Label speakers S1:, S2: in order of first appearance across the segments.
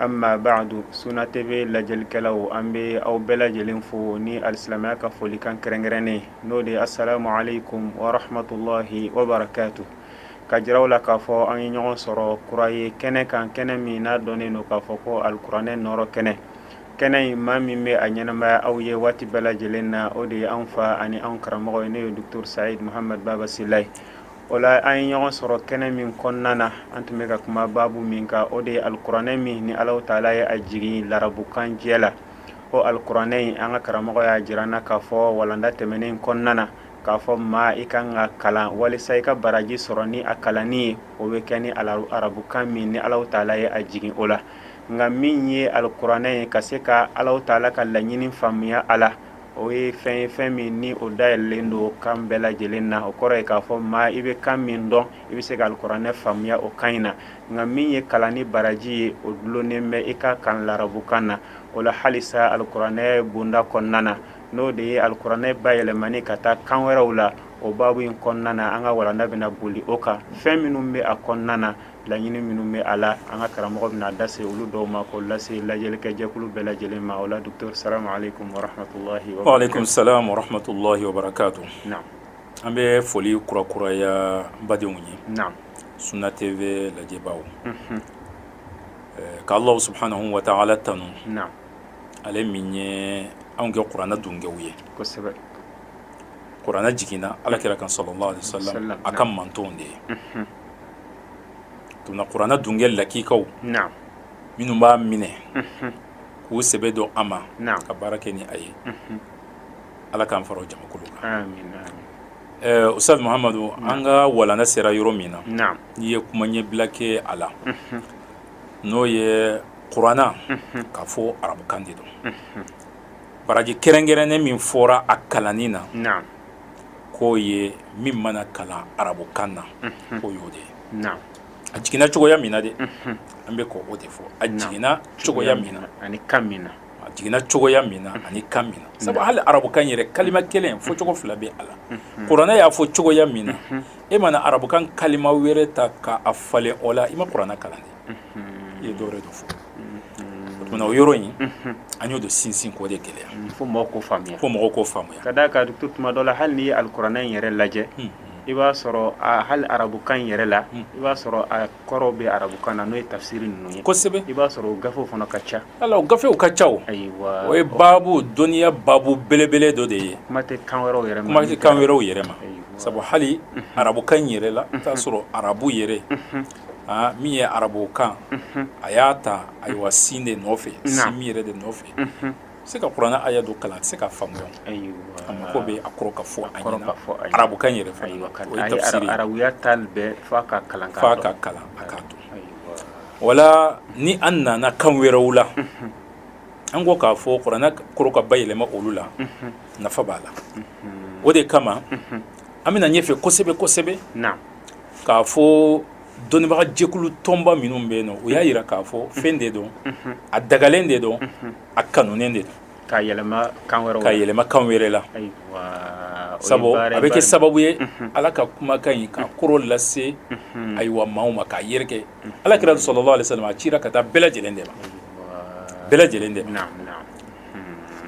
S1: Amma baadu sunna tv lajɛlikɛlaw an bɛ aw bɛɛ lajɛlen fo ni alisilamiya ka folikan kɛrɛnkɛrɛnnen n'o de ye asalamu aleykum wa rahmatulahi wa barakatu k'a jira aw la k'a fɔ an ye ɲɔgɔn sɔrɔ kura ye kɛnɛ kan kɛnɛ min n'a dɔnnen don k'a fɔ ko alikuranɛ nɔɔrɔ kɛnɛ kɛnɛ in maa min bɛ a ɲɛnamaya aw ye waati bɛɛ lajɛlen na o de ye an fa ani an karamɔgɔ ye n'o ye docteur Sayidu Mahamadu Baba Sila ye O la an ye ɲɔgɔn sɔrɔ kɛnɛ min kɔnɔna na an tun bɛ ka kuma baabu min kan o de ye alikuranɛ min ni Alahu taala ye a jigin larabukan jɛ la o alikuranɛ in an ka karamɔgɔ y'a jira an na k'a fɔ walanda tɛmɛnen in kɔnɔna na k'a fɔ maa i ka kan k'a kalan walisa i ka baraji sɔrɔ ni a kalanni ye o bɛ kɛ ni arabukan min ni Alahu taala ye a jigin o la nka min ye alikuranɛ ye ka se ka Alahu taala ka laɲini faamuya a la o ye fɛn ye fɛn min ni o dayɛlen don kan bɛɛ lajɛlen na o kɔrɔ ye k'a fɔ maa i bɛ kan min dɔn i bɛ se ka alikuranɛ faamuya o kan in na nka min ye kalan ni baraji ye o dulonnen bɛ i k'a kalan larabukan na o la halisa alikuranɛ bonda kɔnɔna na n'o de ye alikuranɛ bayɛlɛmani ka taa kan wɛrɛw la o baabu in kɔnɔna na an ka walanda bɛna boli o kan fɛn minnu bɛ a kɔnɔna na laɲini minnu bɛ a la an ka karamɔgɔ bɛna da se olu dɔw ma k'o lase lajɛlikɛjɛkulu bɛɛ lajɛlen ma o la docteur salamu aleykum wa rahmatulahi wa barakatu. wa aleykum salaam wa
S2: rahmatulahi wa barakatu. naam
S1: an bɛ foli
S2: kurakuraya n badenw ye. naam
S1: sunna
S2: tv lajɛbaaw. unhun ɛɛ ka alahu subahanahu wa taala tanu.
S1: naam ale
S2: min ye anw kɛ kuranɛ dungew ye. kosɛbɛ kuranɛ jiginna ala kira kan salalahu aleyhi wa salam, a ka mantonw de ye. unhun tuma na kuranɛ dunge
S1: lakikaw minnu
S2: b'a minɛ mhm. k'u sɛbɛ don a ma ka baara kɛ ni
S1: a ye
S2: mhm. ala k'an fara o jamakulu kan
S1: ustad mahamadu
S2: an ka walana sera yɔrɔ min na n'i ye
S1: kuma
S2: ɲɛbila kɛ a la mhm. n'o ye kuranɛ k'a fɔ arabukan de don baraji kɛrɛnkɛrɛnnen min fɔra a kalanni na
S1: k'o
S2: ye min mana kalan arabukan na k'o y'o de ye
S1: a jiginna cogoya
S2: min na dɛ an bɛ k'o de fɔ a jiginna cogoya min na ani kan min na
S1: a jiginna cogoya
S2: min na ani kan min na sabu hali arabukan yɛrɛ kalima kelen fɔ cogo fila bɛ a la kuranɛ y'a fɔ cogoya min na e mana arabukan kalima wɛrɛ ta k'a falen o la i ma kuranɛ kalan dɛ i ye dɔwɛrɛ de fɔ o tuma na o yɔrɔ in an y'o de sinsin k'o de gɛlɛya fo mɔgɔw k'o
S1: faamuya fo mɔgɔw k'o faamuya ka d'a kan tu tuma dɔ la hali n'i ye alikuranɛ in yɛrɛ lajɛ i b'a sɔrɔ hali arabukan in yɛrɛ la i b'a sɔrɔ a kɔrɔw bɛ arabukan na n'o ye tafisiri ninnu ye kosɛbɛ i b'a sɔrɔ
S2: o gafew
S1: fana ka ca a la o gafew ka
S2: ca o ayiwa o
S1: ye
S2: baabu dɔnniya baabu belebele dɔ de ye kuma tɛ kan wɛrɛw yɛrɛ
S1: ma kuma tɛ kan wɛrɛw yɛrɛ ma
S2: sabu hali arabukan in yɛrɛ la i t'a sɔrɔ arabu yɛrɛ aa min ye arabu kan a y'a ta ayiwa sin de nɔfɛ sin min yɛrɛ de nɔfɛ se ka kuranɛ aya dɔ kalan a tɛ se k'a faamuya a mako
S1: bɛ a
S2: kɔrɔ ka fɔ a ɲɛna arabukan yɛrɛ fana o ye tafsiri ye
S1: arabuya taali bɛɛ f'a ka kalan f'a ka kalan a k'a
S2: dɔn wala ni an nana kan wɛrɛw la an ko k'a fɔ kuranɛ kɔrɔ ka bayɛlɛma olu la nafa b'a la o de kama an bɛna ɲɛfɛ kosɛbɛ kosɛbɛ
S1: k'a
S2: fɔ dɔnnibagajɛkulu tɔnba minnu bɛ yen nɔ o y'a jira k'a fɔ fɛn de don a dagalen de don a kanunen de don
S1: k'a yɛlɛma kan
S2: wɛrɛ la
S1: sabu a bɛ kɛ
S2: sababu ye ala ka kumakan in k'a kɔrɔ lase ayiwa maaw ma k'a yɛrɛ kɛ ala kira salalahu alayhi wa salamu a cira ka taa bɛɛ lajɛlen de ma bɛɛ lajɛlen de ma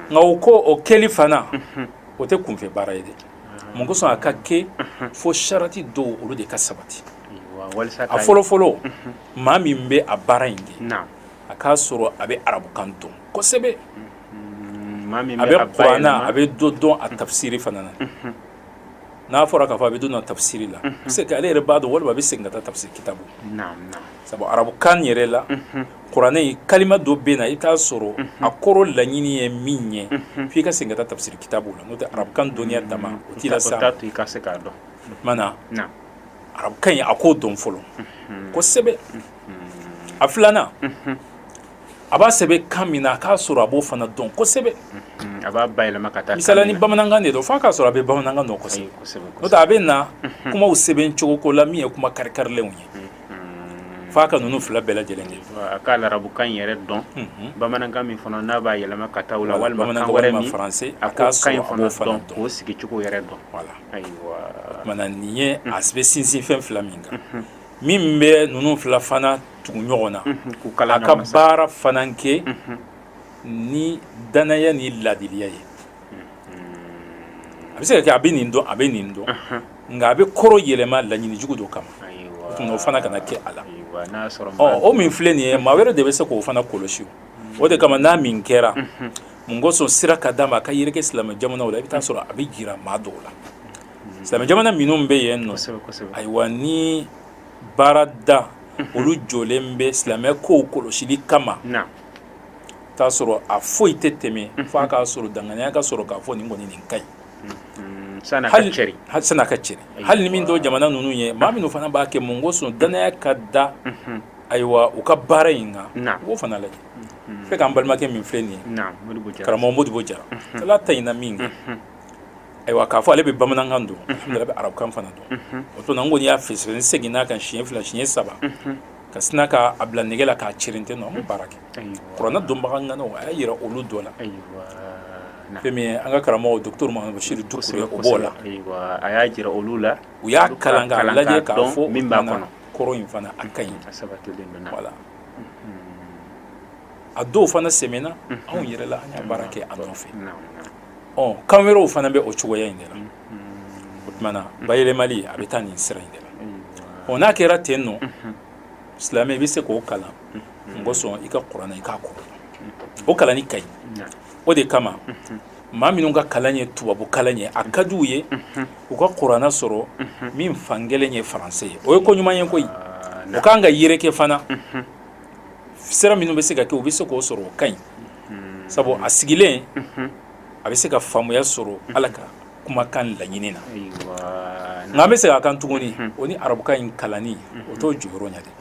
S2: nka o ko o kɛli fana o tɛ kunfɛ baara ye de mun kosɔn a ka kɛ fo sarati dɔw olu de ka sabati a fɔlɔfɔlɔ maa min bɛ a baara in kɛ a k'a sɔrɔ a bɛ arabukan dɔn kosɛbɛ a bɛ kuranɛ a bɛ dɔ dɔn a tafisiri fana na n'a fɔra k'a fɔ a bɛ dɔ dɔn a tafisiri la se ale yɛrɛ b'a dɔn walima a bɛ segin ka taa tafisiri kitabu sabu arabukan yɛrɛ la Kuranɛ kalima dɔ bɛ na i t'a sɔrɔ a kɔrɔ laɲini ye min ye f' i ka segin ka taa tafisiri kitabu la n'o tɛ arabukan dɔnniya dama o t'i lase a ma maana arabukan in a k'o dɔn fɔlɔ kosɛbɛ a filanan a b'a sɛbɛn kan min na a k'a sɔrɔ a b'o fana dɔn kosɛbɛ a b'a
S1: bayɛlɛma ka taa misala ni bamanankan de don
S2: f'a k'a sɔrɔ a bɛ bamanankan dɔn kosɛbɛ a bɛ na kumaw sɛbɛn cogoko la min ye kuma karikarilenw ye f'a ka ninnu fila bɛɛ lajɛlen kɛ a ka arabukan
S1: in yɛrɛ dɔn bamanankan min fana n'a b'a yɛlɛma ka taa o la walima kan wɛrɛ ma faransɛ a ka kan in
S2: fana dɔn k'o sigi cogo yɛrɛ dɔn maana nin ye a bɛ sinsin fɛn fila min kan min bɛ ninnu fila fana tugu ɲɔgɔn na a ka baara fana kɛ ni dannaya ni laadiliya ye a bɛ se ka kɛ a bɛ nin dɔn a bɛ nin dɔn nka a bɛ kɔrɔ yɛlɛma laɲini jugu dɔ kama o fana kana kɛ a la o min filɛ nin ye maa wɛrɛ de bɛ se k'o fana kɔlɔsi o de kama n'a min kɛra mun kosɔn sira ka d'a ma a ka yɛrɛ kɛ silamɛ jamanaw la i bɛ t'a sɔrɔ a bɛ jira maa dɔw la silamɛ jamana minnu bɛ yen nɔ ayiwa ni baarada olu jɔlen bɛ silamɛ kow kɔlɔsili kama i t'a sɔrɔ a foyi tɛ tɛmɛ fo a k'a sɔrɔ danganiya ka sɔrɔ k'a fɔ nin kɔni nin ka ɲi Sani ka cɛri, sani a ka cɛri, hali ni min t'o jamana ninnu ye maa minnu fana b'a kɛ mun kosɔn danaya ka da, unhun, ayiwa u ka baara in kan, naamu, u b'o fana lajɛ, unhun, ne k'an balimakɛ min filɛ nin ye, naamu, Modibo Jara, karamɔgɔ Modibo Jara, unhun, Ala tanyana min kan, unhun, ayiwa k'a fɔ ale bɛ bamanankan dɔn, unhun, alihamudulila a bɛ arabukan fana dɔn, unhun, o tuma na n kɔni y'a fɛsɛfɛsɛ n seginna a kan siɲɛ fila siɲɛ saba, unhun, ka sina k'a bila nɛgɛ la k'a cɛrin ten nɔ an m'o baara kɛ kuranɛ dɔnbaga ŋanaw a y'a jira olu dɔ la fɛn min ye an ka karamɔgɔ docteur Mahamadu Bachir Doucouré o b'o la, ayiwa a y'a jira
S1: olu la u y'a kalan k'a
S2: lajɛ k'a fɔ min b'a kɔnɔ kɔrɔ in fana a ka ɲi a sabatilen don voilà a dɔw fana sɛmɛna anw yɛrɛ la an y'a baara kɛ a nɔfɛ ɔ kan wɛrɛw fana bɛ o cogoya in de la o tumana bayɛlɛmali a bɛ taa nin sira in de la ɔ n'a kɛra ten nɔ silamɛ i bɛ se k'o kalan mun kosɔn i ka kuranɛ i k'a kɔrɔ o kalanni ka ɲi o de kama maa minnu ka kalan ye tubabu kalan ye a ka di u ye u ka kuranɛ sɔrɔ min fankelen ye faransɛ ye o ye ko ɲuman ye koyi o ka kan ka yɛrɛkɛ fana sira minnu bɛ se ka kɛ u bɛ se k'o sɔrɔ o ka ɲi sabu a sigilen a bɛ se ka faamuya sɔrɔ ala ka kumakan laɲini na nka an bɛ segin a kan tuguni o ni arabukan in kalanni o t'o jɔyɔrɔ ɲɛ dɛ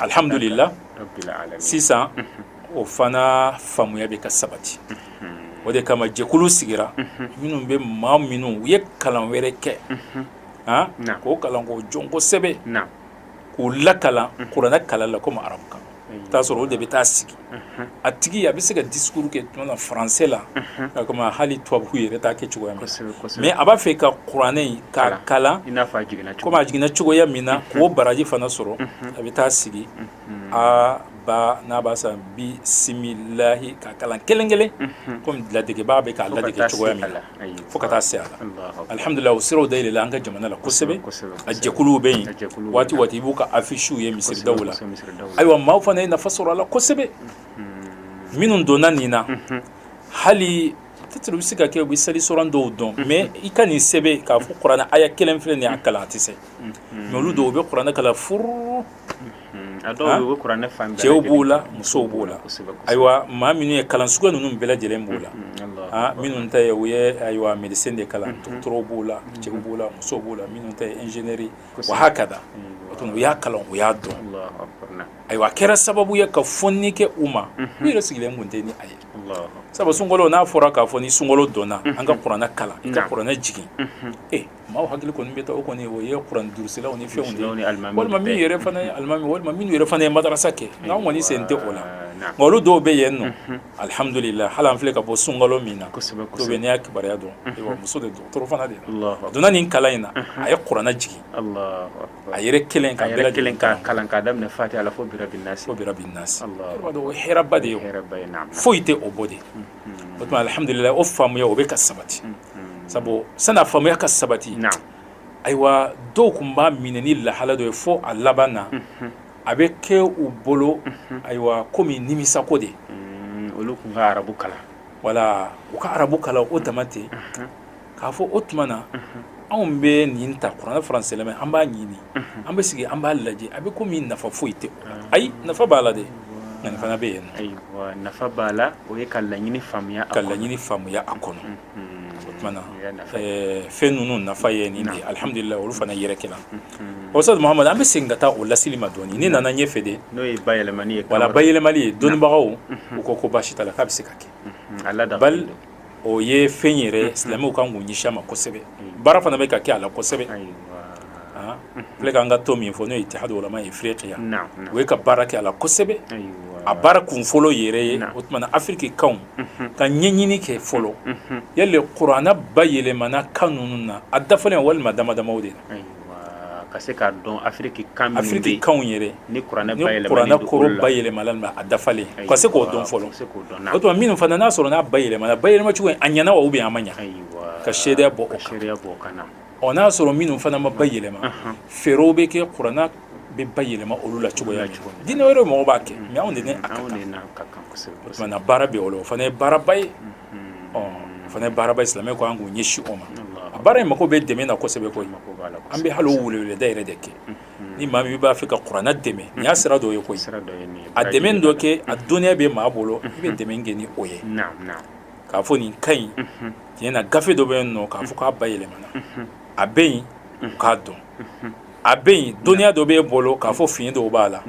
S2: alihamudulila sisan o fana faamuya bɛ ka sabati o de kama jɛkulu sigira minnu bɛ maa minnu u ye kalan wɛrɛ kɛ k'o kalan k'o dɔn kosɛbɛ k'u lakalan kuranɛ kalan la komi arabukan i t'a sɔrɔ o de bɛ taa sigi a tigi a bɛ se ka discours kɛ tuma na français la komi hali tubabu yɛrɛ t'a kɛ cogoya min na mais a b'a fɛ ka kuranɛ in k'a kalan i n'a fɔ a jiginna komi a jiginna cogoya min na k'o baraji fana sɔrɔ a bɛ taa sigi a ba n'a b'a san bisimilahi ka kalan kelen kelen komi ladegebaa bɛ k'a ladege cogoya min na fo ka taa se a la alihamudulila o siraw dayɛlɛla an ka jamana la kosɛbɛ a jɛkuluw bɛ yen waati waati i b'u ka affiches ye misiridaw la ayiwa maaw fana ye nafa sɔrɔ a la kosɛbɛ minnu donna nin na hali peut-être bɛ se ka kɛ u bɛ sali suran dɔw dɔn mais i ka nin sɛbɛn k'a fɔ kuranɛ aya kelen filɛ nin y'a kalan a tɛ se mais olu don u bɛ kuranɛ kalan furu cɛw b'o la musow b'o la ayiwa maa minnu ye kalan suguya ninnu bɛɛ lajɛlen b'o la minnu ta ye u ye ayiwa médecine de kalan dɔgɔtɔrɔw b'o la cɛw b'o la musow b'o la minnu ta ye ingénierie wa hakada u y'a kalan u y'a dɔn ayiwa a kɛra sababu ye ka fɔnni kɛ u ma u yɛrɛ sigilen tun tɛ ni a ye sabu sunkalo n'a fɔra k'a fɔ ni sunkalo donna an ka kuranɛ kalan i ka kuranɛ jigin Maaw hakili kɔni bɛ taa o kɔni o ye kuranɛ durusilaw ni fɛnw de walima min yɛrɛ fana ye alimami walima min yɛrɛ fana ye madarasa kɛ nka an kɔni sen tɛ o la olu dɔw bɛ yen nɔ alihamdulila hali an filɛ ka bɔ sunkalo min na dɔ bɛ n' y'a kibaruya dɔn muso de dɔgɔtɔrɔ fana de a donna nin kalan in na a ye kuranɛ jigin a yɛrɛ kelen k'a bɛɛ lajɛlen kalan k'a daminɛ
S1: fatiha la fo birabi
S2: nasi i b'a dɔn o ye hɛrɛba de ye foyi tɛ o bɔ dɛ o tuma alihamdulila o faamuya o bɛ ka sabati sabu sani a faamuya ka sabati in na ayiwa dɔw tun b'a minɛ ni lahala dɔ ye fo a laban na a bɛ kɛ u bolo ayiwa kɔmi nimisako de olu tun
S1: ka arabu kalan wala
S2: u ka arabu kalan o dama ten k'a fɔ o tuma na anw bɛ nin ta kuranɛ faransɛlama in an b'a ɲini an bɛ sigi an b'a lajɛ a bɛ kɔmi nafa foyi tɛ ayi nafa b'a la dɛ nka nin fana bɛ yen nɔ ayiwa nafa b'a la
S1: o ye ka laɲini faamuya ka laɲini faamuya
S2: a kɔnɔ o tuma na fɛn ninnu nafa ye nin de alihamdulila olu fana yɛrɛ kɛla Ustaz Muhamad an bɛ segin ka taa o lasili ma dɔɔnin ni nana ɲɛfɛ de n'o ye bayɛlɛmani ye
S1: wala bayɛlɛmali ye
S2: dɔnnibagaw u ko ko baasi t'a la k'a bɛ se ka kɛ o ye fɛn yɛrɛ ye silamɛw kan k'u ɲɛsin a ma kosɛbɛ baara fana bɛ ka kɛ a la kosɛbɛ filɛ k'an ka tɔn min fɔ n'o ye itihadu ulama Ifirikiya o ye ka baara kɛ a la kosɛbɛ a baara kun fɔlɔ yɛrɛ ye o tuma na afiriki kanw ka ɲɛɲini kɛ fɔlɔ yali kuranɛ bayɛlɛmana kan ninnu na a dafalen walima dama damaw de la ka se
S1: k'a dɔn afiriki kan minnu bɛ yen
S2: afiriki kanw
S1: yɛrɛ ni kuranɛ kɔrɔ
S2: bayɛlɛmala a dafalen ka se k'o dɔn fɔlɔ o tuma minnu fana n'a sɔrɔ n'a bayɛlɛmala bayɛlɛma cogo a ɲɛna wa ou bien a ma ɲɛ ka seereya bɔ o kan n'a sɔrɔ minnu fana ma bayɛlɛma fɛɛrɛw bɛ kɛ kuranɛ bɛ bayɛlɛma olu la cogoya jumɛn dinɛ wɛrɛ mɔgɔw b'a kɛ mais anw de a ka kan o tuma na baara bɛ o la o fana ye baaraba ye ɔ o fana baaraba ye silamɛw ka kan k'u ɲɛsin o ma a baara in mago bɛ dɛmɛ na kosɛbɛ koyi an bɛ hali o weleweleda yɛrɛ de kɛ ni maa min b'a fɛ ka kuranɛ dɛmɛ nin y'a sira dɔ ye koyi a dɛmɛ dɔ kɛ a dɔnniya bɛ maa bolo i bɛ dɛmɛ kɛ ni o ye k'a fɔ nin ka ɲi tiɲɛ na gafe dɔ bɛ yen nɔ k'a fɔ k'a bayɛlɛmana a bɛ yen k'a dɔn a bɛ yen dɔnniya dɔ bɛ e bolo k'a fɔ fiɲɛ dɔw b'a la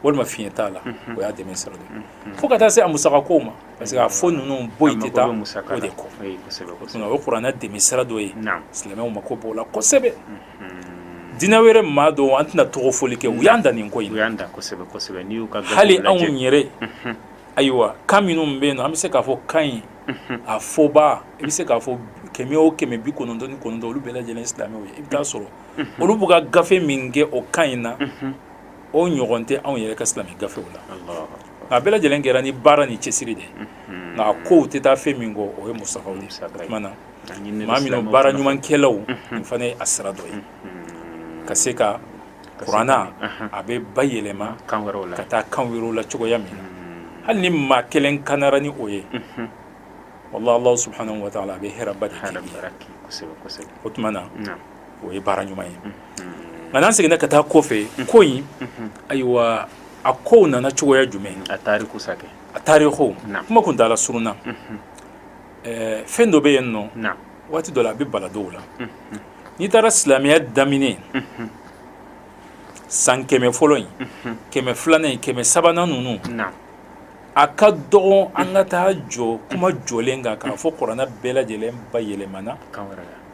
S2: walima fiɲɛ t'a la o y'a dɛmɛ sira dɔ ye fo ka taa se a musakakow ma parce que gafe ninnu bɔli tɛ taa o de kɔ o ye kuranɛ dɛmɛ sira dɔ ye silamɛw mako b'o la kosɛbɛ dinɛ wɛrɛ maa dɔw an tɛna tɔgɔ fɔli kɛ u y'an dan nin ko in hali anw yɛrɛ ayiwa kan minnu bɛ yen nɔ an bɛ se k'a fɔ kan in a fɔbaa i bɛ se k'a fɔ kɛmɛ o kɛmɛ bi kɔnɔntɔn ni kɔnɔntɔn olu bɛɛ lajɛlen silamɛw ye i bɛ taa sɔrɔ olu b'u ka gafe min kɛ o kan in na o ɲɔgɔn tɛ anw yɛrɛ ka silamɛ gafew la nka bɛɛ lajɛlen kɛra ni baara ni cɛsiri de nka kow tɛ taa fɛn min kɔ o ye musakaw de o tuma na maa minnu baara ɲumankɛlaw nin fana ye a sira dɔ ye ka se ka kuranɛ a bɛ bayɛlɛma ka taa kan wɛrɛw la cogoya min na hali ni maa kelen kanara ni o ye wallahi Allah subhanahu wa ta'ala a bɛ hɛrɛba de kɛ o tuma na o ye baara ɲuman ye nka n'an seginna ka taa kɔfɛ ko in ayiwa a kow nana cogoya jumɛn
S1: a tariku
S2: kuma kuntaala surunna fɛn dɔ bɛ yen nɔ waati dɔ la a bɛ bala dɔw la n'i taara silamɛya daminɛ san kɛmɛ fɔlɔ in kɛmɛ filanan in kɛmɛ sabanan ninnu a ka dɔgɔn an ka taa jɔ kuma jɔlen kan k'a fɔ kuranɛ bɛɛ lajɛlen bayɛlɛmana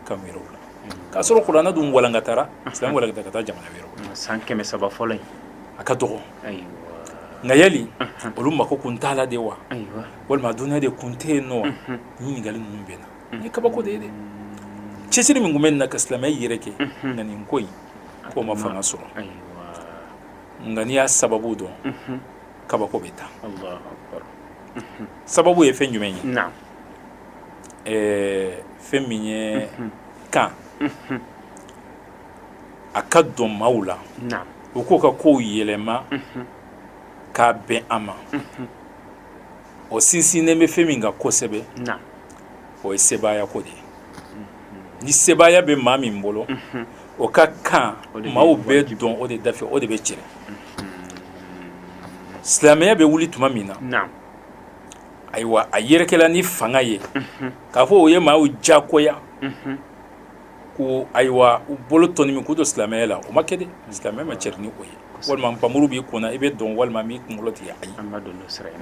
S2: kan wɛrɛw la k'a sɔrɔ kuranɛ dun walankatara silamɛ walankata ka taa jamana wɛrɛw la san kɛmɛ saba fɔlɔ
S1: in a ka
S2: dɔgɔ nka yali olu mako kun t'a la de wa walima dɔnniya de kun tɛ yen nɔ wa ɲininkali ninnu bɛ na ni kabako de ye dɛ cɛsiri min kun bɛ nin na ka silamɛya yɛrɛkɛ nka nin ko in k'o ma fanga sɔrɔ nka n'i y'a sababu dɔn kabako bɛ taa sababu ye fɛn jumɛn ye ɛɛ fɛn min ye kan a ka don maaw la u k'u ka kow yɛlɛma k'a bɛn a ma o sinsinnen bɛ fɛn min kan kosɛbɛ o ye sebaaya ko de ye ni sebaaya bɛ maa min bolo o ka kan maaw bɛ don o de dafɛ o de bɛ cɛri silamɛya bɛ wuli tuma min na ayiwa a yɛrɛkɛla ni fanga ye k'a fɔ u ye maaw diyagoya ko ayiwa u bolo tɔnɔmi k'u don silamɛya la o ma kɛ dɛ silamɛya ma cɛri ni o ye walima npanmuru b'i kunna i bɛ don walima n b'i kunkolo tigɛ ayi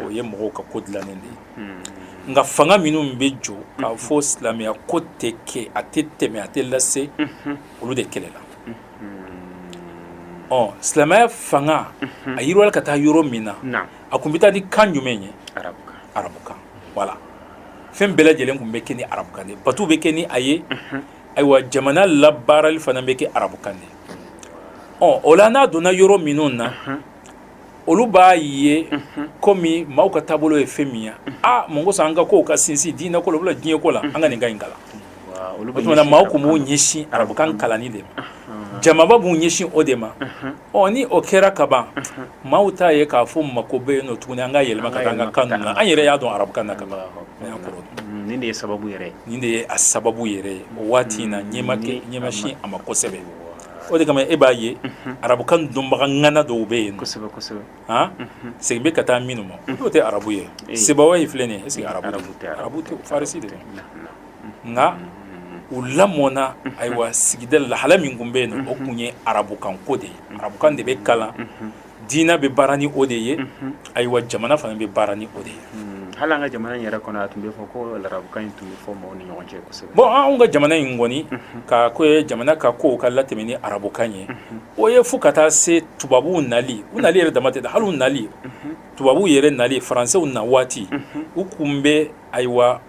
S2: o ye mɔgɔw ka ko dilannen de ye nka fanga minnu bɛ jɔ k'a fɔ silamɛya ko tɛ kɛ a tɛ tɛmɛ a tɛ lase olu de kɛlɛla ɔ silamɛya fanga a yiriwala ka taa yɔrɔ min na a kun bɛ taa ni kan jumɛn ye arabukan wala fɛn bɛɛ lajɛlen kun bɛ kɛ ni arabukan de bato bɛ kɛ ni a ye ayiwa jamana labaarali fana bɛ kɛ arabukan de ɔ o la n'a donna yɔrɔ minnu na olu b'a ye komi maaw ka taabolo ye fɛn min ye aa mun ko sa an ka kow ka sinsin diinɛ ko la wala diɲɛ ko la an ka nin kan in kalan
S1: olu o tuma na maaw tun
S2: b'u ɲɛsin arabukan kalanni de ma jamaba b'u ɲɛsin o de ma ɔ ni o kɛra kaban maaw t'a ye k'a fɔ mako bɛ yen nɔ tuguni an ka yɛlɛma ka taa an ka kan na an yɛrɛ y'a dɔn arabukan na kaban nin
S1: de ye sababu yɛrɛ nin de ye a
S2: sababu yɛrɛ ye o waati in na ɲɛ ma kɛ ɲɛ ma sin a ma kosɛbɛ o de kama e b'a ye arabukan dɔnbaga ŋana dɔw bɛ yen kosɛbɛ kosɛbɛ han segin bɛ ka taa minnu ma n'o tɛ arabu ye sibawayi filɛ nin ye est ce que arabu arabu tɛ farisi de don nka u lamɔna ayiwa sigida lahala min tun bɛ yen o tun ye arabukanko de ye arabukan de bɛ kalan diinɛ bɛ baara ni o de ye ayiwa jamana fana bɛ baara ni o de ye hali an ka jamana in yɛrɛ
S1: kɔnɔ a tun bɛ fɔ ko arabukan in tun bɛ fɔ maaw ni ɲɔgɔn cɛ kosɛbɛ bɔn anw ka jamana
S2: in kɔni ko ye jamana ka kow ka latɛmɛ ni arabukan ye o ye fo ka taa se tubabuw nali u nali yɛrɛ dama tɛ hali nali tubabuw yɛrɛ nali faransew na waati u tun bɛ ayiwa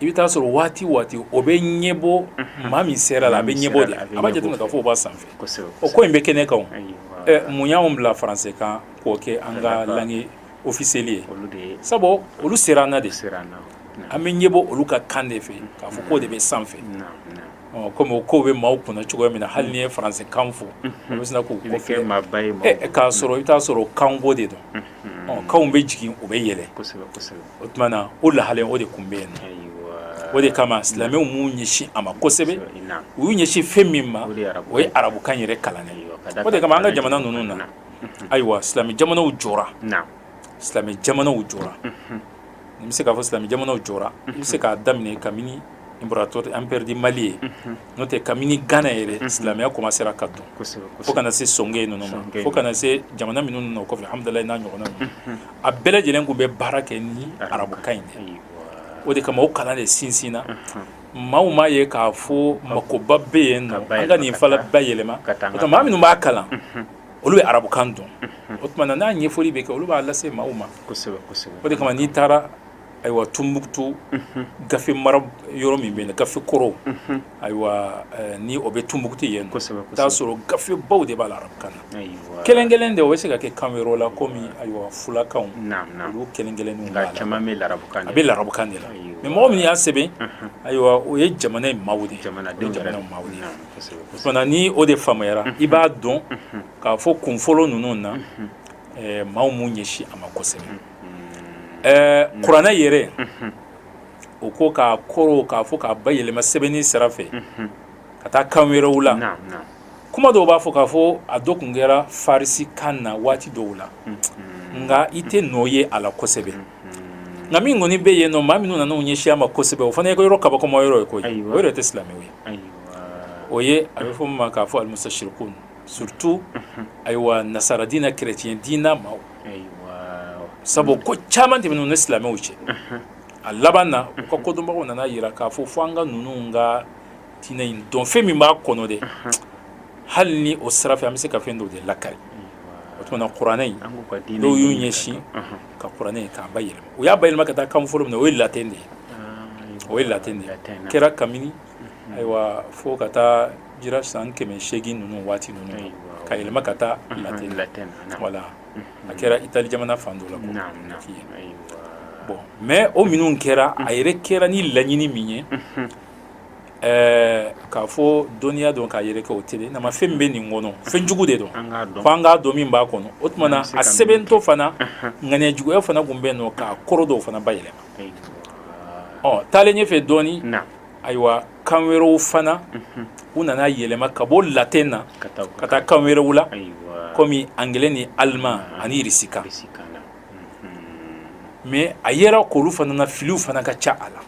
S2: i bɛ t'a sɔrɔ waati waati o bɛ ɲɛbɔ maa min sera i la a bɛ ɲɛbɔ de a b'a jateminɛ k'a fɔ o b'a sanfɛ o ko in bɛ kɛnɛ kan mun y'an bila faransɛkan k'o kɛ an ka langue officielle ye sabu olu sera an na de an bɛ ɲɛbɔ olu ka kan de fɛ k'a fɔ k'o de bɛ sanfɛ kɔmi o kow bɛ maaw kunna cogoya min na hali n'i ye faransɛkan fɔ u bɛ sina k'u k'a sɔrɔ i bɛ t'a sɔrɔ kanko de don kanw bɛ jigin u bɛ yɛlɛ o tuma na o lahala in o de tun bɛ yen o de kama silamɛw m'u ɲɛsin a ma kosɛbɛ u y'u ɲɛsin fɛn min ma o ye arabukan yɛrɛ kalanni o de kama an ka jamana ninnu na ayiwa silamɛ jamanaw jɔra silamɛ jamanaw jɔra n bɛ se k'a fɔ silamɛ jamanaw jɔra n bɛ se k'a daminɛ kabini imbrato empire du mali ye n'o tɛ kabini gana yɛrɛ silamɛya kɔmansera ka don fo ka na se sɔngayi ninnu ma fo ka na se jamana minnu nana kɔfɛ hamudalayi n'a ɲɔgɔnna ninnu a bɛɛ lajɛlen tun bɛ baara kɛ ni arabukan in de o de kama o kalan de sinsinna maaw m'a ye k'a fɔ makoba bɛ yen nɔ an ka nin fana bayɛlɛma maa minnu b'a kalan olu bɛ arabukan dɔn o tuma na n'a ɲɛfɔli bɛ kɛ olu b'a lase maaw ma o de kama n'i taara ayiwa tumbukutu gafe mara yɔrɔ min bɛ yen gafe kɔrɔw ayiwa ni o bɛ tumbukutu yen t'a sɔrɔ gafe baw de b'a la arabukan na kelen kelen de o bɛ se ka kɛ kan wɛrɛw la kɔmi ayiwa fulakan olu kelen kelen caman bɛ arabukan a bɛ arabukan de la mɛ mɔgɔ min y'a sɛbɛn ayiwa o ye jamana in maaw de ye jamana maaw ni o de faamuyara i b'a dɔn k'a fɔ kunfɔlɔ ninnu na maaw m'u ɲɛsin a ma kosɛbɛ kuranɛ yɛrɛ u ko k'a kɔrɔ k'a fɔ k'a bayɛlɛma sɛbɛnni sira fɛ ka taa kan wɛrɛw la kuma dɔw b'a fɔ k'a fɔ a dɔ kun kɛra farisi kan na waati dɔw la nka i tɛ nɔ ye a la kosɛbɛ nka min kɔni bɛ yen nɔ maa minnu nana u ɲɛsin a ma kosɛbɛ o fana ye ko yɔrɔ kabakoma yɔrɔ ye koyi o yɛrɛ tɛ silamɛw ye o ye a bɛ fɔ min ma k'a fɔ alimusasirikun surtout ayiwa nasara diinɛ chrétien diinɛ maaw sabu ko caman tɛmɛna u ni silamɛw cɛ a laban na u ka kodɔnbagaw nana yira k'a fɔ fo an ka ninnu ka diinɛ in dɔn fɛn min b'a kɔnɔ dɛ hali ni o sira fɛ an bɛ se ka fɛn dɔ de lakari o tuma na kuranɛ in dɔw y'u ɲɛsin ka kuranɛ in k'a bayɛlɛma u y'a bayɛlɛma ka taa kan fɔlɔ min na o ye latin de ye o ye latin de ye kɛra kabini ayiwa fo ka taa jira san kɛmɛ segin ninnu waati ninnu ka yɛlɛma ka taa latin voilà a kɛra itali jamana fan dɔ la bon mais o minnu kɛra a yɛrɛ kɛra ni laɲini min ye ɛɛ k'a fɔ dɔnniya dɔn k'a yɛrɛkɛ o tɛ na ma fɛn bɛ nin kɔnɔ fɛn jugu de don fo an k'a dɔn min b'a kɔnɔ o tuma na a sɛbɛntɔ fana ŋaniya juguya fana tun bɛ yen nɔ k'a kɔrɔ dɔw fana bayɛlɛma ɔ taalen ɲɛfɛ dɔɔnin ayiwa kan wɛrɛw fana u nana yɛlɛma ka bɔ latin na ka taa kan wɛrɛw la kɔmi anglais ni allemand ani irisikan mais a yera k'olu fana na filiw fana ka ca a la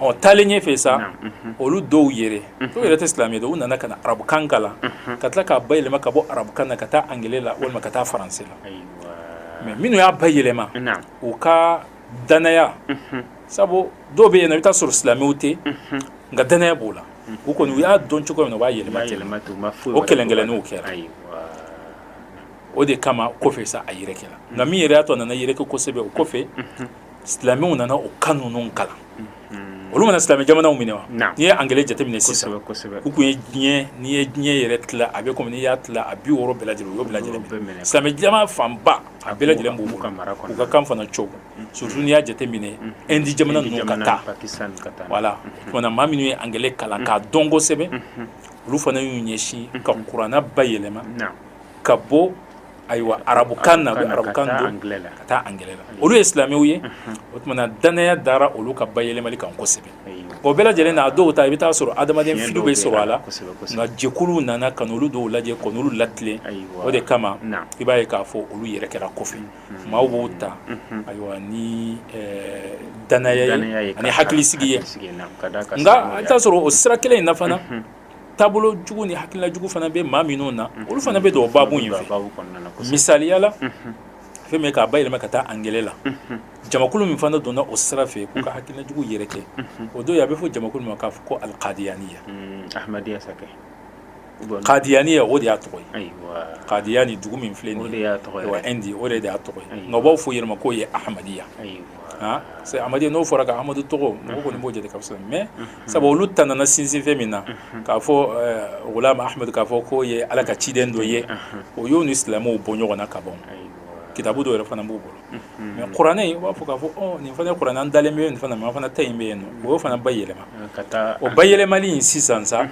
S2: ɔ taalen ɲɛfɛ sa olu dɔw yɛrɛ dɔw yɛrɛ tɛ silamɛ don u nana ka na arabukan kalan ka tila k'a bayɛlɛma ka bɔ arabukan na ka taa anglais la walima ka taa français la mais minnu y'a bayɛlɛma u ka danaya sabu dɔw bɛ yen nɔ i bɛ taa sɔrɔ silamɛw tɛ nka danaya b'o la k'u kɔni u y'a dɔn cogo min na u b'a yɛlɛma ten o kelenkeleninw kɛra o de kama kɔfɛ sa a yɛrɛkɛra nka min yɛrɛ y'a to a nana yɛrɛkɛ kosɛbɛ o kɔfɛ silamɛw nana o kan ninnu kalan hmm. olu mana silamɛ jamanaw minɛ wa n'i ye anglais jateminɛ sisan u kun ye diɲɛ n'i ye diɲɛ yɛrɛ tila a bɛ komi n'i y'a tila a bi wɔɔrɔ bɛɛ lajɛlen u y'o bɛɛ lajɛlen minɛ silamɛ jamana fanba a bɛɛ lajɛlen b'u bolo u ka kan fana cogo hmm. surtout n'i y'a jateminɛ ɛndi hmm. jamana ninnu ka taa voilà o tuma na maa minnu ye anglais kalan k'a dɔn kosɛbɛ olu fana y'u ɲɛsin ka kurana bayɛlɛma ka bɔ Ayiwa arabukan na arabukan ka taa anglais la olu ye silamɛw ye o tuma na danaya dara olu ka bayɛlɛmali kan kosɛbɛ o bɛɛ lajɛlen na a dɔw ta i bɛ taa sɔrɔ adamaden fili bɛ sɔrɔ a la nka jɛkuluw nana ka n'olu dɔw lajɛ ka n'olu latilen o de kama i b'a ye k'a fɔ olu yɛrɛ kɛra kɔfɛ maaw b'o ta ayiwa ni danaya ye ani hakilisigi ye nka i bɛ taa sɔrɔ o sira kelen in na fana taabolo jugu ni hakilina jugu fana bɛ maa minnu na olu fana bɛ don o babu in fɛ misaliya la fɛn min k'a bayɛlɛma ka taa angilɛ la jamakulu min fana donna o sira fɛ k'u ka hakilina jugu yɛrɛkɛ o dɔ ye a bɛ fɔ jamakulu min ma k'a fɔ ko alikadiyaniya kadiyaniya o de y'a tɔgɔ ye kadiyani dugu min filɛ nin ye wa indi o de y'a tɔgɔ ye nka u b'a fɔ u yɛrɛ ma k'o ye ahamadiya c'est amadiya n'o fɔra ka amadu tɔgɔ mɔgɔ kɔni b'o jate ka fisa mais sabu olu ta nana sinsin fɛn min na k'a fɔ gulamu ahamadu k'a fɔ k'o ye ala ka ciden dɔ ye o y'o ni silamɛw bɔ ɲɔgɔn na ka ban kitabu dɔ yɛrɛ fana b'u bolo mais kuranɛ in u b'a fɔ k'a fɔ nin fana kuranɛ an dalen bɛ nin na mais an fana ta in bɛ yen nɔ o y'o fana bayɛlɛma o bayɛlɛmali in sisan sa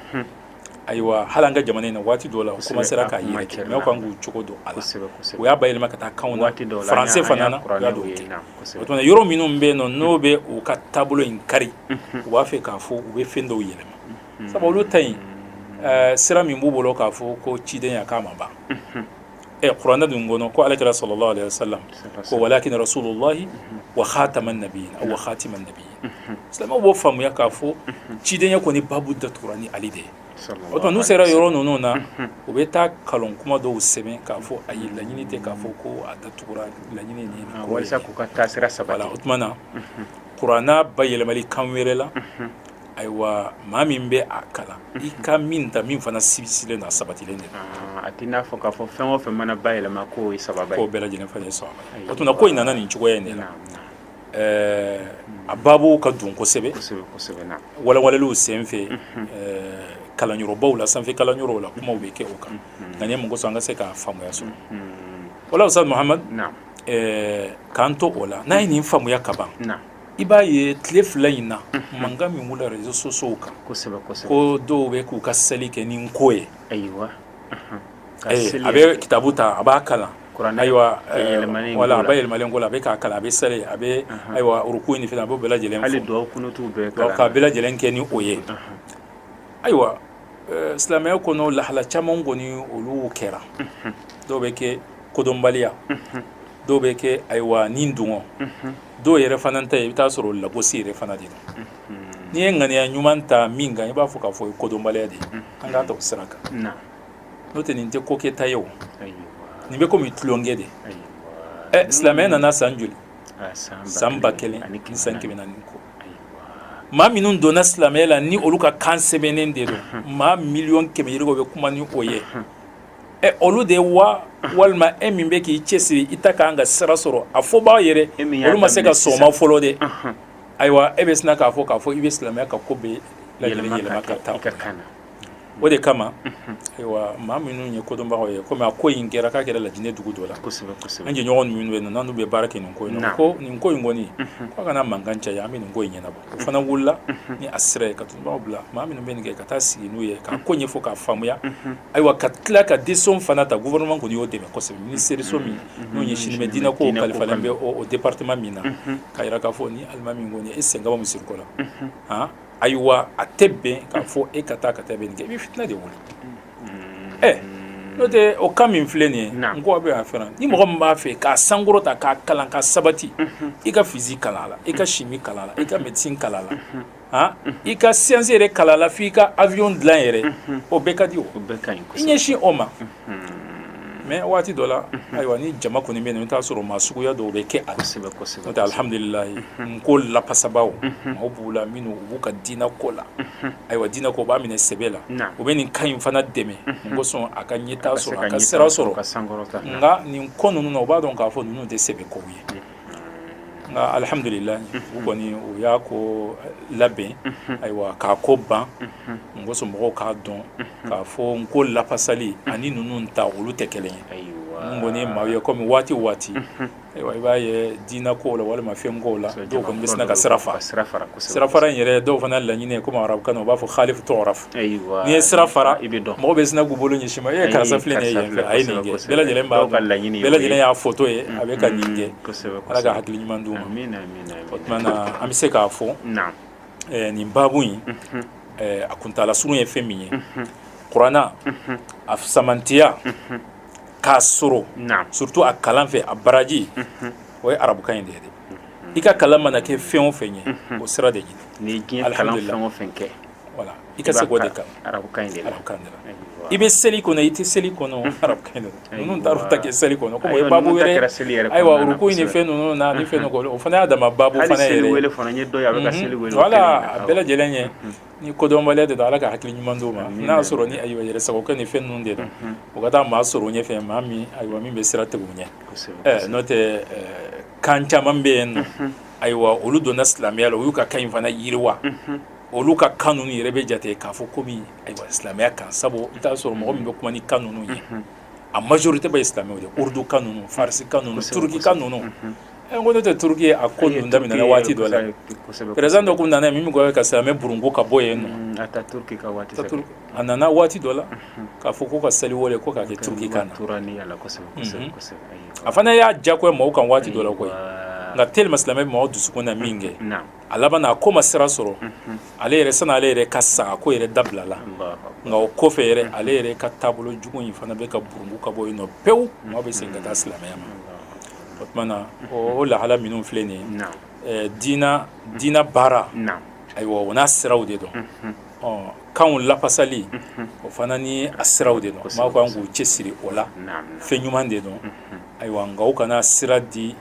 S2: ayiwa hali an ka jamana in na waati dɔw la u commencera k'a yɛrɛkɛ mais u kan k'u cogo dɔn a la u y'a bayɛlɛma ka taa kanw na français fana na u y'a dɔ kɛ o tuma yɔrɔ minnu bɛ yen nɔ n'o bɛ u ka taabolo in kari u b'a fɛ k'a fɔ u bɛ fɛn dɔw yɛlɛma sabu olu ta in sira min b'u bolo k'a fɔ ko cidenya k'a ma ban ɛ kuranɛ dun kɔnɔ ko ala kira sallallahu alaihi wasallam ko walakin rasulullahi wa khataman nabiyyin aw wa khatiman nabiyyin silamɛw b'o faamuya k'a fɔ cidenya kɔni babu datugura ni ale de ye o tuma n'u sera yɔrɔ ninnu na u bɛ taa kalon kuma dɔw sɛbɛn k'a fɔ ayi laɲini tɛ k'a fɔ ko a datugura laɲini ni ah, walasa k'u ka taasira sabati o tuma na kuranna bayɛlɛmali kan wɛrɛ la ayiwa maa min bɛ a kalan i ka min ta min fana sibisilen don a sabatilen de don a t'i n'a fɔ k'a fɔ fɛn o fɛn mana bayɛlɛma k'o ye ça va k'o bɛɛ lajɛlen fana ye ça va o tuma ko in nana nin cogoya in de la ɛɛ a babu ka dun kosɛbɛ walawaleliw sen fɛ kalanyɔrɔbaw la sanfɛ kalanyɔrɔw la kumaw bɛ kɛ o kan nka nin ye mun kosɔn an ka se k'a faamuya sɔrɔ wala Ustaz Muhamad k'an to o la n'a ye nin faamuya ka ban i b'a ye tile fila in na mankan min wulila réseaux sociaux kan ko dɔw bɛ k'u ka seli kɛ nin ko ye a bɛ kitabu ta a b'a kalan ayiwa wala a bayɛlɛmalen ko la a bɛ k'a kalan a bɛ seli a bɛ ayiwa ruku ni fɛn a b'o bɛɛ lajɛlen k'a bɛɛ lajɛlen kɛ ni o ye ayiwa silamɛya kɔnɔ lahala caman kɔni olu kɛra dɔw bɛ kɛ kodɔnbaliya dɔw bɛ kɛ ayiwa ni dungɔ dɔw yɛrɛ fana ta ye i bɛ t'a sɔrɔ lagosi yɛrɛ fana de don n'i ye ŋaniya ɲuman ta min kan i b'a fɔ k'a fɔ kodɔnbaliya de an k'a ta o sira kan n'o tɛ nin tɛ ko kɛta ye o nin bɛ kɔmi tulonkɛ de ɛ silamɛya nana san joli san ba kelen ani san kɛmɛ naani kɔ maa minnu donna silamɛya la ni olu ka kan sɛbɛnnen de don maa miliyɔn kɛmɛ yirika bɛ kuma ni o ye ɛ olu de ye wa walima e min bɛ k'i cɛsiri i ta kan ka sira sɔrɔ a fɔbaa yɛrɛ e min y'a olu ma se ka daminɛ sisan. sɔn a ma fɔlɔ de Ɔnhɔn. ayiwa e bɛ sina k'a fɔ k'a fɔ i bɛ silamɛya ka ko bɛɛ lajɛlen yɛlɛma yɛlɛma ka ka taa kɛ i ka kan na o de kama ayiwa maa minnu ye kodɔnbagaw ye komi a ko in kɛra k'a kɛra lajinɛ dugu dɔ la kosɛbɛ kosɛbɛ an jɛɲɔgɔn minnu bɛ yen nɔ n'olu bɛ baara kɛ nin ko in na Naamu. ko nin ko in kɔni k'a kana mankan caya an bɛ nin ko in ɲɛnabɔ o fana wulila ni a sira ye ka tunbaw bila maa minnu bɛ nin kɛ ka taa sigi n'u ye k'a ko ɲɛfɔ k'a faamuya Ayiwa ka tila ka décision fana ta gouvernement kɔni y'o dɛmɛ kosɛbɛ minisiriso min n'u ɲɛsinnen bɛ diinɛ ko kalifalen bɛ o département min na k'a jira k'a fɔ ni alimami kɔni e sen ka bɔ misiri ko la ayiwa a tɛ bɛn k'a fɔ e ka taa ka taa bɛ nin kɛ i bɛ fitina de wuli ɛ n'o tɛ o kan min filɛ nin ye n ko a bɛ fɛn ni mɔgɔ min b'a fɛ k'a sankɔrɔta k'a kalan ka sabati i ka physique kalan a la i ka chimie kalan a la i ka médecine kalan a la i ka science yɛrɛ kalan a la f'i ka avion dilan yɛrɛ o bɛɛ ka di o i ɲɛsin o ma mais waati dɔ la ayiwa ni jama kɔni bɛ yen i bɛ t'a sɔrɔ maa suguya dɔw bɛ kɛ a la alihamdulilayi n ko lafasabaaw maaw b'u la minnu u b'u ka diinɛ ko la ayiwa diinɛ ko u b'a minɛ sɛbɛ la u bɛ nin kan in fana dɛmɛ n kosɔn a ka ɲɛtaa sɔrɔ a ka sira sɔrɔ nka nin ko ninnu na u b'a dɔn k'a fɔ ninnu tɛ sɛbɛ kow ye nka alihamdulilayi u kɔni u y'a ko labɛn ayiwa k'a ko ban n kosɔn mɔgɔw k'a dɔn k'a fɔ n ko lafasali ani ninnu ta olu tɛ kelen ye n kɔni maaw ye kɔmi waati o waati ayiwa i b'a ye diinɛ kow la walima fɛn kow la dɔw kɔni bɛ sina ka sira fara sira fara in yɛrɛ dɔw fana laɲini ye komi arabukan na u b'a fɔ halifu turafu N'i ye sira fara i bɛ dɔn mɔgɔw bɛ sina k'u bolo ɲɛsin i ma e karisa filɛ nin ye yan fɛ a ye nin kɛ bɛɛ lajɛlen b'a ka laɲini bɛɛ lajɛlen y'a foto ye a bɛ ka nin kɛ kosɛbɛ Ala ka hakili ɲuman d'u ma amin amin o tuma na an bɛ se k'a fɔ naam nin baabu in a kuntaala surun ye fɛn min ye kuranɛ a fisamantiya k'a sɔrɔ naam surtout a kalan fɛ a baraji o ye arabukan in de ye dɛ i ka kalan mana kɛ fɛn o fɛn ye o sira de ɲini n'i ye diɲɛ kalan fɛn o fɛn kɛ i ka se k'o de kalan i bɛ seli kɔnɔ i tɛ seli kɔnɔ ninnu taar'u ta kɛ seli kɔnɔ ayiwa ruku ni fɛn ninnu na ni fɛn o fana y'a dama baabu fana a bɛɛ lajɛlen ye ni kodɔnbaliya de don ala ka hakili ɲuman d'u ma n'a y'a sɔrɔ ni ayiwa yɛrɛ sagokɛ ni fɛn ninnu de don o ka taa maa sɔrɔ u ɲɛ fɛ maa min ayiwa min bɛ sira tigɛ u ɲɛ n'o tɛ kan caman bɛ yen nɔ ayiwa olu donna silamɛya la u y'u ka kan in fana yiriwa olu ka kan ninnu yɛrɛ bɛ jate k'a fɔ komi ayiwa silamɛya kan sabu i t'a sɔrɔ mɔgɔ min bɛ kuma ni kan ninnu ye a majorité bɛɛ ye silamɛw de urdu kan ninnu farisi kan ninnu turuki kan ninnu ɛ n ko n'o tɛ turuki a ko ninnu daminɛna waati dɔ la perezan dɔ tun nana yen min ko ka silamɛya burunko ka bɔ yen nɔ Ataturuki ka waati fɛ a nana waati dɔ la k'a fɔ ko ka seli wele ko k'a kɛ turuki kan na a fana y'a diyagoya mɔgɔw kan waati dɔ la koyi nka teliman silamɛya bɛ mɔgɔw dusukun na min kɛ a laban a ko ma sira sɔrɔ ale yɛrɛ sani ale yɛrɛ ka sa a ko yɛrɛ dabilala nka o kɔfɛ yɛrɛ ale yɛrɛ ka taabolo jugu in fana bɛ ka burungu ka bɔ yen nɔ pewu maaw bɛ segin ka taa silamɛya ma o tuma na o lahala minnu filɛ nin ye diina diina baara ayiwa o n'a siraw de don kanw lafasali o fana ni a siraw de don maaw kan k'u cɛsiri o la fɛn ɲuman de don ayiwa nka u kana sira di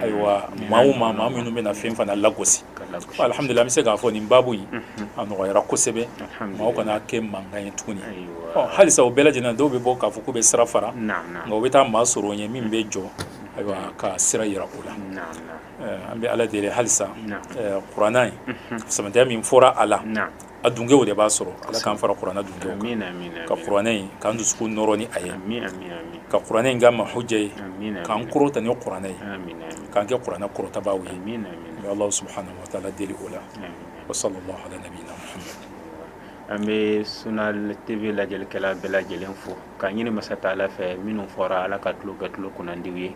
S2: ayiwa maaw ma maa minnu bɛna fɛn fana lagosi alihamudulilahi an bɛ se k'a fɔ nin baabu in a nɔgɔyara kosɛbɛ maaw kana kɛ mankan ye tuguni halisa o bɛɛ lajɛlen dɔw bɛ bɔ k'a fɔ k'u bɛ sira fara nka u bɛ taa maa sɔrɔ u ɲɛ min bɛ jɔ ayiwa ka sira jira u la an bɛ ala deli halisa kuranna in sɛmɛntiya min fɔra a la a dungew de b'a sɔrɔ Ala k'an fara kuranɛ dungew kan amina amina ka kuranɛ in k'an dusukun nɔrɔ ni a ye amina amina ka kuranɛ in kɛ an ma huja ye k'an kɔrɔta ni kuranɛ ye amina k'an kɛ kuranɛ kɔrɔtabaaw ye amina amina n bɛ Alahu subahanahu wataala deli o la wa salalahu ala nabiyina muhamadu
S1: an bɛ Sunna TV lajɛlikɛla bɛɛ lajɛlen fo k'a ɲini masa taala fɛ minnu fɔra Ala k'an tulo kɛ tulo kunnandiw ye